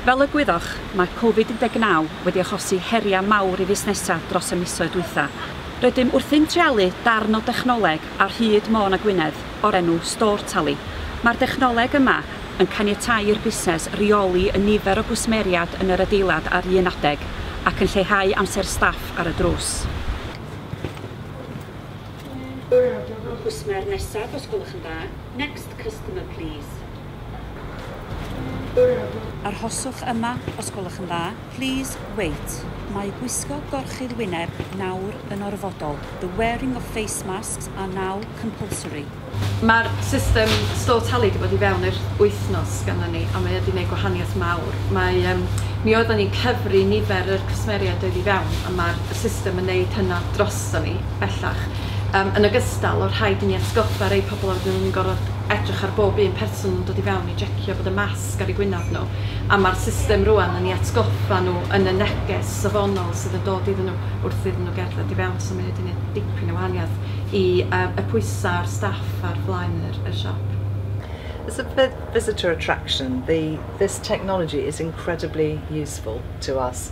Fel y gwyddoch, mae Covid 19 wedi achosi heriau mawr i fusnesau dros y misoedd dwytha. Rydym wrthi'n treialu darn o dechnoleg ar hyd Môn a Gwynedd o'r enw StoreTally. Mae'r dechnoleg yma yn caniatáu i'r busnes reoli y nifer o gwsmeriaid yn yr adeilad ar un adeg, ac yn lleihau amser staff ar y drws. Cwsmer nesaf os gwelwch yn dda. Next customer please. Arhoswch yma os gwelwch yn dda. Please wait. Mae gwisgo gorchudd wyneb nawr yn orfodol. The wearing of face masks are now compulsory. Mae'r system store tali 'di bod i fewn ers wythnos ganddon ni a mae o 'di neud gwahaniaeth mawr. Mae yym mi oeddan ni'n cyfri nifer yr cwsmeriaid oedd i fewn a ma'r system yn neud hynna droston ni bellach. Yym yn ogystal, o rhaid i ni atgoffa rei pobl a wedyn o'n ni'n gorfod edrych ar bob un person yn dod i fewn i jecio bod y masg ar eu gwyneb nhw, a ma'r system rŵan yn 'u atgoffa nhw yn y neges safonol sydd yn dod iddyn nhw wrth iddyn nhw gerdded i fewn, so mae o 'di neud dipyn o wahaniaeth i yym y pwysa ar staff ar flaen yr y siop. As a visitor attraction, the this technology is incredibly useful to us.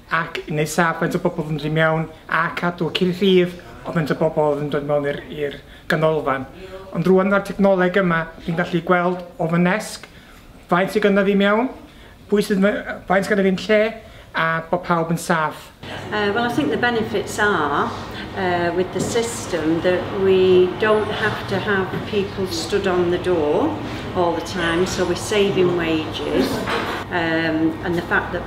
ac nesaf faint o bobl fynd i mewn a cadw cyn llif o faint o bobl oedd yn dod mewn i'r i'r ganolfan. Ond rwan mae'r technoleg yma, chi'n gallu gweld o fy nesg faint sydd gyda fi mewn, pwy sydd me- yy faint sydd gyda fi'n lle a bod pawb yn saff. Uh, well, I think the benefits are uh, with the system that we don't have to have people stood on the door all the time, so we're saving wages, um, and the fact that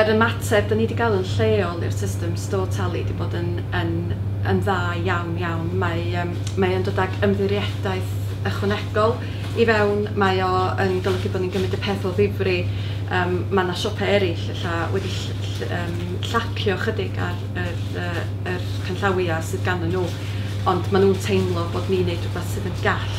Yr ymateb dan ni wedi gael yn lleol i'r system store tali wedi bod yn yn yn dda iawn iawn. Mae yym mae o'n dod ag ymddiriedaeth ychwanegol i fewn, mae o yn golygu bod ni'n gymryd y peth o ddifri. Yym ma' 'na siopau eraill ella wedi ll- ll- yym llacio ychydig ar yr yy yr canllawiau sydd ganddyn nhw, ond maen nhw'n teimlo bod ni'n wneud rhywbeth sydd yn gall.